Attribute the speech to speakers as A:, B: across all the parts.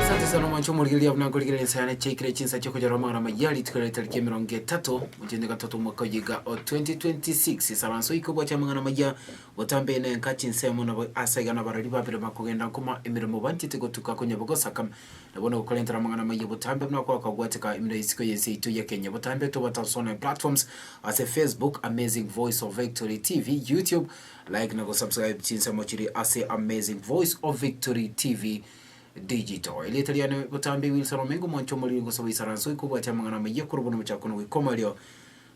A: Asante sana omwancho omorigereria buna nkorigereria ensa yane chiaikire chinsa chiokonyorera amang'ana amaya rituko riaito tariki emerongo etato mwezi one gatoto omwaka oyo iga o 2026 esara nso oike obwache amang'ana amaya botambe na engaki nsemo nabo ase iga nabarari babere bakogenda nkoma emeremo banchete gotuka konyabo gosaka Na bono gokorentera amang'ana amaya botambe buna kwakabwateka imino y'isiko y'ense yaito ya Kenya. Botambe tobwate ase online platforms ase Facebook, Amazing Voice of Victory TV, YouTube, like na gosubscribe chinsemo chiri ase Amazing Voice of Victory TV Digital. Erieta riane botambe Wilson Omengo, mwancho omoriri ngosaba isaranso oikobwate amang'ana amaya korwa bono mochakano goika omoerio.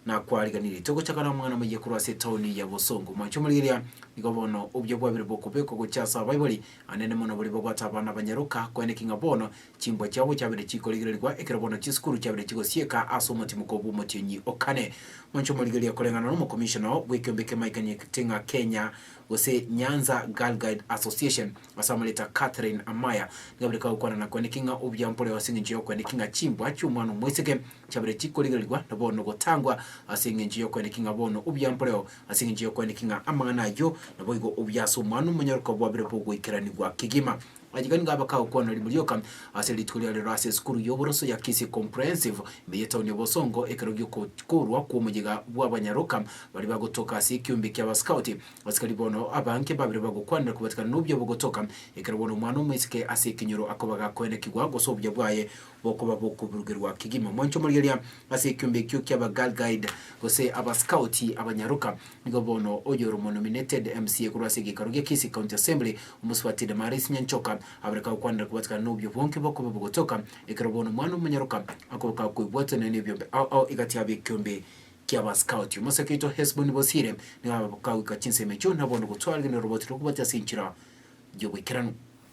A: na kwariganirie togochaka nomwana moyia korwa ase etaoni ya bosongo. Mwanche omorigereria, nigo bono obuya bwabire bokobekwa gochia ase abaibori anene mono baria babwate abana abanyaroka, kweene ki ng'a bono chimbwa chiabo chiabire chikorigererigwa, ekero bono chisukuru chiabire chigosieka ase omotimoko bw'omotienyi o kane. Mwanche omorigereria, koreng'ana n'omokomishona bw'ekeombe kia Mike Nyeting'a Kenya gose Nyanza Girl Guide Association ase amareeta a Catherine Amaya, nigo abire kagokwanana kweene ki ng'a obuya mporeo ase engencho y'okweene ki ng'a chimbwa chi'omwana omoiseke Chabere chikorigererigwa, na bono gotangwa ase engencho y'okweneki ng'a bono obuya mboreo, ase engencho y'okweneki ng'a amang'ana ayio naboigo obuya ase Omwana-o-monyoroka bwabire bogoikeranigwa kegima. Ayio nigo abakao kwana rimo rioka ase rituko ria rero ase esukuru y'oboroso ya Kisii Comprehensive ime y'etauni ya Bosongo ekero gi'okoorwa kw'omoyega bw'abanyaroka baria bagotoka ase ekeombe ki'Abaskauti. Abasikari bono abange babire bagokwanera kobatikana n'obuya bogotoka ekero bono omwana omoiseke ase ekenyoro akobaga kwenekigwa gose obuya bwaye bokoba bokoburugerwa kegima. Mwanche omorigereria ase ekiombe ekio kia aba Girl Guide gose aba Scout abanyaroka. Nigo bono oyore omonominated mca korwa ase egekaro gia Kisii County Assembly, omosubati Damaris Nyanchoka, abareka gokwanera kobwatekana nobio bwonke bokoba bogotoka ekero bono omwana omonyaroka akoboka koebwatwa nonya nebiombe ao ao egati yabo ekiombe kia aba Scout. Omosake oito Hesboni Bosire nigo akogoika chinsemo echio na bono gotwara rigereria roroboti rokobwatia ase enchera yoboikeranu.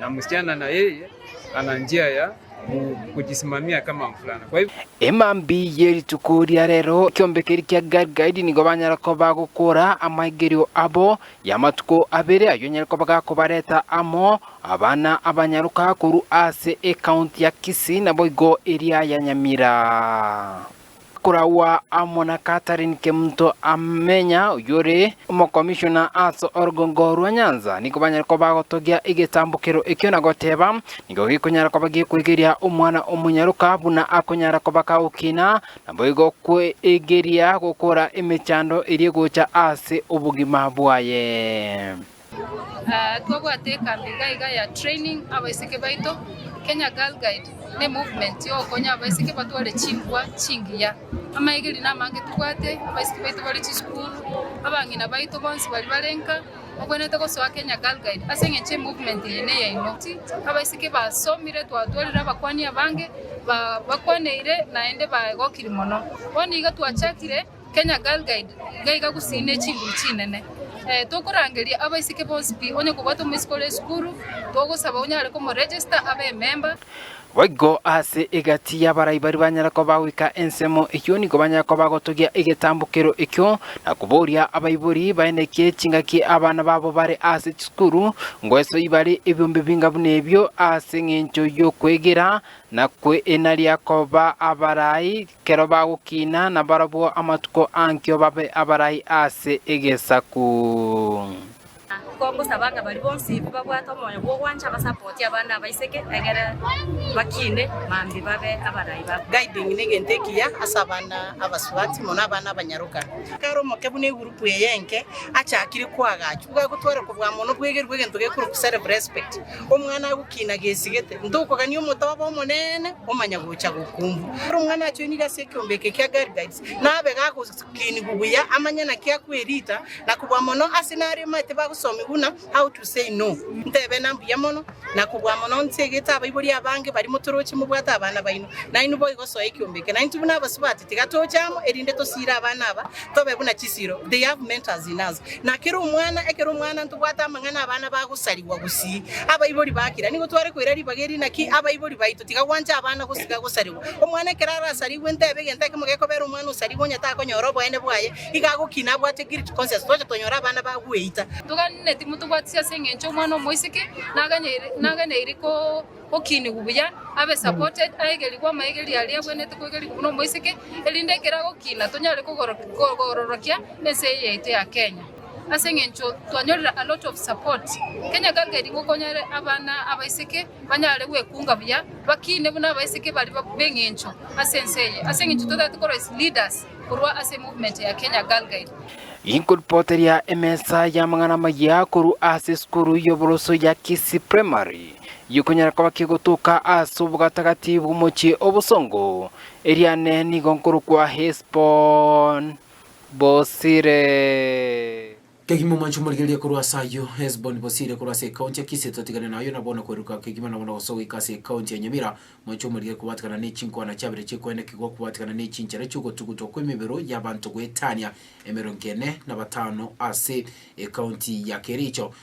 B: na msichana na yeye ana njia ya kujisimamia kama mvulana. Kwa hivyo Emambi ye
C: rituko ria rero ekiombe keria kia Galgadi nigo banyara koba bagokora amaigerio abo y'amatuko abere, ayio nyare koba gakobareta amo abana abanyaroka korwa ase ecounty ya Kisii naboigo eria ya Nyamira. Koragwa amo na Catherine Kemunto Amenya, oyore omokomishona ase orogongo rwa Nyanza, nigo banyare koba bagotogia egetambokero ekio na goteba nigo gekonyara koba gekoegeria omwana omonyaroka buna akonyara koba kagokina, naboigo kweegeria gokora emechando eria egocha ase obogima bwaye.
D: Twabwate ekambi iga iga ya training abaiseke baito, Kenya Girl Guide ne movement ya ogokonya abaiseke batware chinkwa chingiya. Amaegeri na amange tobwate, abaiseke baito bare chisukuru, abang'ina baito bonsi bari bare nka, obwenerete gosoa Kenya Girl Guide ase eng'encho emovement eye neyaino. Abaiseke basomire twatwarire abakwani abange ba bakwaneire naende baegokiri mono. Bono iga twachakire. Kenya Girl Guide ngaiga gusii ne chinguru chinene. Eh, tokorangeria abaiseke bonsi pi, onye kobwate omoiseke ore esukuru, togosaba onyare komoregister abe ememba. Boigo
C: ase egati y'abarai baria banyare koba goika ensemo eyio nigo banyare koba gotogia egetambukero ekio na koboria abaibori baenekie chingaki abana babo bare ase chisukuru ngoesoi bare ebiombe binga buna ebio ase engencho y'okwegera na kweinaria koba abarai Kero bagokiina nabarabwo amatuko ankio babe abarai ase egesaku. Kwa
E: gosaba ng'a baria bonsi babwate omoyo bw'ogwancha basapoti abande abaiseke, egere bakiine mambia babe abarai ba. Guiding negento ekiya
F: ase abana abasubati, mono abana abanyaroka. Kare omoke buna egurupu eye enke achakire koagachwa, igo agotwara kobua mono bwegeru bw'egento gekoroku self-respect. Omwana agokina gesigete, ntokogania omotoba omonene omanya gocha gokumbwa. Ere omwana achoinigwe ase ekeombe eke kia Garigites, nabe gagokinigwa buya amanye naki akwerita, na kobua mono ase nario omanyete bagosomigwa buna How to say No. Ntebe na mbuya mono, na kobua mono inse egete abaibori abange bari motoroche mobwate abana baino, nainwe boigo soa ekeombe eke. Naintwe buna abasubati tiga toche amo, erinde tosiire abana aba, Tobe buna chisiiro, they have mentors in us. Na kera omwana, ekero omwana ntobwate amang'ana abana bagosarigwa gusii, abaibori ba kira nigo tware koira ribaga eri, naki abaibori baito tiga gwanche abana gosiga gosarigwa. Omwana ekero arasarigwe ntebe egento ekemo gekobera omwana osarigwe onye takonyora oboene bwaye, iga agokina abwate guilt conscience. Twache tonyore abana bagweita. Toganeti motobwatisi
D: ase engencho omwana omoiseke naganeire, naganeire ko. Gokiinigwa buya, abe supported, aegerigwe amaegerio aria abwenerete koegerigwa buna omoiseke, erinde ekero agokiina tonyare kogororokia ense eye yaito ya Kenya. Ase eng'encho twanyorire a lot of support, Kenya gangeri ngokonyere abana abaiseke banyare gwekunga buya, bakiine buna abaiseke bari b'eng'encho ase ense eye, ase eng'encho totaete korwa as leaders korwa ase movement ya Kenya Girl Guide. Inkorupoteria
C: emesa y'amang'ana amaya korwa ase esukuru y'oboroso ya Kisii Primary. gikonyara koba kegotoka ase obogatagati bw'omochie o bosongo, eriane nigo nkorokwa Hesbon-bosire. Kegima omoanchwa omorigereria
A: korwa ase ayio, Hesbon-bosire korwa ase ekaunti ya Kisi, totigane nayo na bono kweruruka kegima na bono gosoa goika ase ekaunti ya Nyamira, moanchwa omorigereria kobwatekana ne chinkwana chiabere chiekoenekigwa kobwatekana ne chinchera chi'ogotugutwa kw'emebero y'abanto goetania emerongo ene na batano ase ekaunti ya Kericho,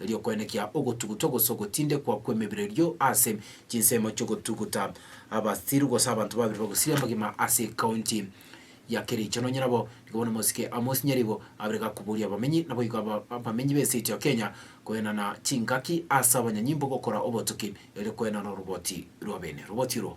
A: erio koenekia ogotugutwa gose ogotindekwa kw'emebere erio ase chinsemo chi'ogotuguta abasiru gose abanto babere bagosiria amagima ase ekaunti ya Kericho. Nonye nabo nigo bono omosike Amos Nyaribo abere gakoboria abamenyi naboigo aba abamenyi b'ense ya Kenya koenana chingaki ase abanyanyimbo gokora obotuki erio koenana oroboti rw'abene roboti oro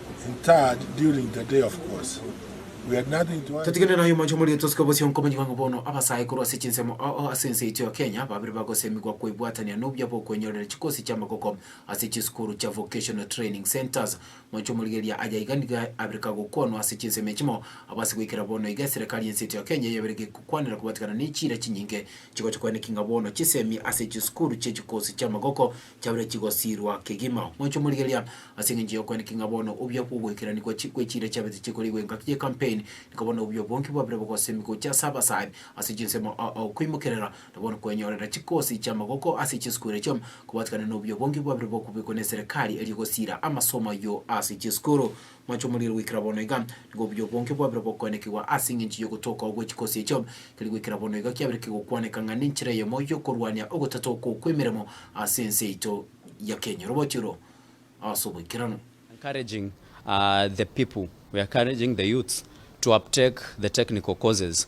G: Totigane naye omonche omorito
A: osike bosio nkomanyigwa ng'a bono abasae korwa ase chinsemo ao ase ense yaito ya Kenya babire bagosemigwa kwebwatania nobuya bw'okwenyorera chikosi chi'amagoko ase chisukuru chia Vocational Training Centres. Monche omorigereria aya iga nigo abire kagokwanwa ase chinsemo echimo abo ase goikera bono iga eserekari y'ense yaito ya Kenya eyabire gekokwanera kobatigana nechiira chinyinge chigocha kweneki ng'a bono chisemi ase chisukuru chi'echikosi chi'amagoko Chiabeire chigosiirwa kegima mochie morigereria ase engencho y'okoenekia ng'a bono obuya bw'ogoikerania gwa chi- gwe chiira chiabete chikorigwa engaki ye campaign, nigo bono obuya bwonki bwabire bogosemi gochia ase abasani ase chinsemo a- a okoimokerera, na bono kwenyorera chikosi chi'amagoko ase chisukuru echio, kobwatikana nobuya bwonki bwabire bokobekwa neserikari erio gosiira amasomo ayio ase chisukuru. Mwanche omoriri goikera bono iga, nigo obuya bwonke bwabire bokoenekigwa ase engencho y'ogotoka gwe chikosi echio. Tari goikera bono iga kiabire kegokwaneka ng'a nenchera eyemo y'okorwania ogotata okwo kw'emeremo ase ense yaito ya Kenya. Oroboti oro ase oboikeranu. Encouraging
H: the people, we are encouraging the youths to uptake the technical courses.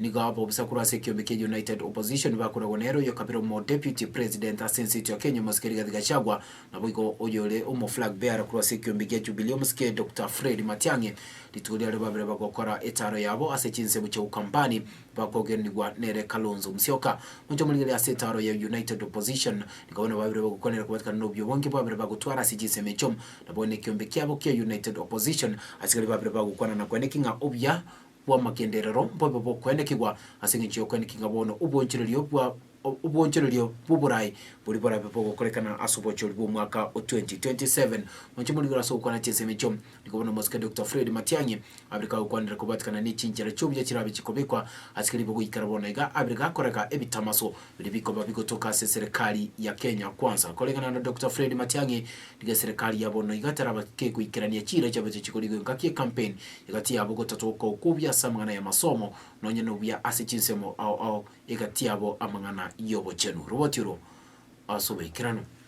A: Nigo aba obosakuru ase ekiombe kia United Opposition bakoragwa nere oyo kabere omo Deputy President ase ense eito ya Kenya Omosike Rigathi Gachagua, naboigo oyore omo Flag Bearer korwa ase ekiombe gia Jubilee Omosike Doctor Fred Matiang'i. Rituko riaria babere bagokora etaaro yabo ase chinsemo chia Ukambani bakogenigwa nere Kalonzo Musyoka. Gocha morigereria ase etaaro ya United Opposition nigo bono babere bagokwanera kobatekana nobio bwange babere bagotwara ase chinsemo echio. Naboigo nekiombe kiabo kia United Opposition asigari babere bagokwana na kweneki ng'a obuya bw'amagenderero mbobe bokoenekigwa, ase engencho y'okoeneki ng'a bono obwoonchorerio bwa obwoonchorerio bw'oboraai boria borabe bogokorekana ase obochoori bw'omwaka o 2027. Moche morigoro ase ogokwana chinsemo echio, nigo bono omosike Dokita Fred Matiang'i abire kagokwanera kobwatikana nechinchera chi'obuya chirabe chikobekwa ase keribe goikera bono iga abire gakorega ebitamaso Biria bikoba bigotoka ase eserekari ya Kenya Kwanza. Koreng'ana na Dokita Fred Matiang'i, rigia eserekari ya bono iga etaraba kegoikerania chiira chiabeche chikorigwe engaki ekampeni egatiabo gotatoka okwobia ase amang'ana y'amasomo nonya nobuya ase chinsemo ao ao egatiabo amang'ana y'obochenu. Riboti oro ase oboikeranu.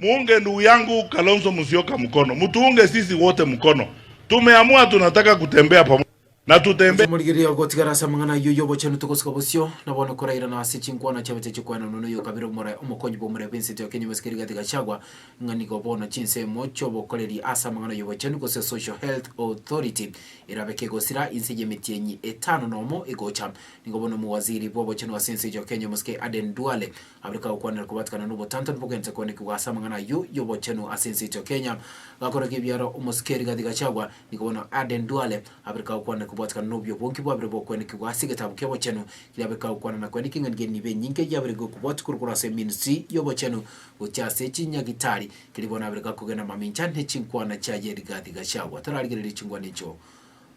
I: Muunge ndugu yangu Kalonzo Musyoka mkono, mutuunge sisi wote mkono, tumeamua tunataka kutembea pamoja na tutembee. Otomorigereria gotigara ase
A: amang'ana ayio y'obochenu togosika bosio, na bono korairana ase chinkwana chiabete chikwenanwa noyo okabera omora omokonyi bw'omorei bw'ensete ya Kenya Omosike Rigathi Gachagua ng'a nigo bono chinsemo chi'obokoreri ase amang'ana y'obochenu gose Social Health Authority erabe kegosira inse y'emetienyi etano nomo egocha nigo bono Omowaziri bw'obochenu ase ense ya Kenya Omosike Aden Duale Abare kagokwanera kobatikana nobotantani bogento koanekigwa ase amang'ana ayio y'obochenu ase ense yaito ya Kenya, gakorerwa ebiara omosikeri Rigathi Gachagua, nigo bono Aden Duale abare kagokwanera kobatikana nobio bonki bwabire bokoenekigwa ase egetabu ki'obochenu, erio abare kagokwana na koaneka eng'enage enini nibe enyinge yabire gokobwatwa korokoro ase eministri y'obochenu gochia ase chinyagitari, keria bono abire gakogenda mamincha ne chinkwana chiaye Rigathi Gachagua tararigereria chinkwana echio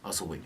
A: ase obonye.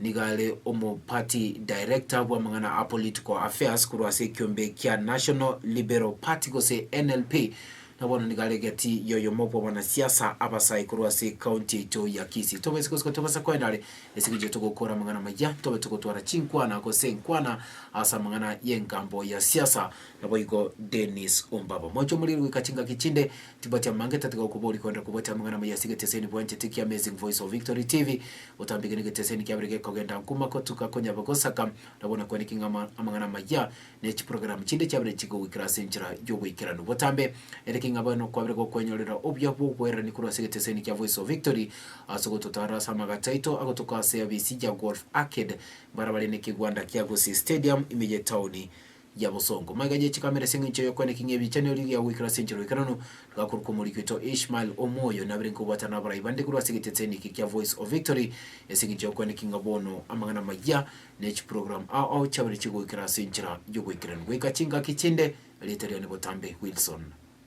A: Nigo are omo party director bw'amang'ana a political affairs korwa ase ekiombe kia National Liberal Party gose NLP, na bono nigo are egati y'oyomo bw'abanasiasa abasae korwa ase ecounty yaito ya Kisii. Tobe isiko isiko tobasa koenda are esiko erio togokora amang'ana amaya, tobe togotwara chinkwana gose enkwana ase amang'ana y'engambo ya siasa. Naboigo Dennis Ombaba. Moche omoriri goika chingaki chinde. Tibachamanga etatiga gokoboria kwenda kobwate amang'ana amaya ase egeteseni bwanchete kia Amazing Voice of Victory TV. Otambike negeteseni kiabere gekogenda nkuma kotuka konyaba gosaka nabo na kwaniki ng'a ama amang'ana amaya ne chiprogramu chinde chiabere chigogoikera ase enchera y'oboikeranu. Botambe ere ki ng'a bono kwabere gokwenyorera obuya bw'obwerani korwa ase egeteseni kia Voice of Victory ase ogototaara ase amagato aito agotoka ase ab'Isija Golf Arcade, barabare nekegwanda kia Gusii Stadium, ime y'etaoni. ya bosongo. Maiga yechikameresia eng'encho y'okweneka ng'a ebichanero erio gia goikera ase enchera oikeranu, rigakorokwa omoriki oito Ishmael omoyo, nabere nkobwatana nabarai bande korwa ase egetetseni eke kia Voice of Victory, ase eng'encho y'okweneka ng'a bono amang'ana amayia ne chiprogram ao ao chiabere chigoikera ase enchera y'oboikeranu goika chingaki chinde. Erieta riane botambe Wilson.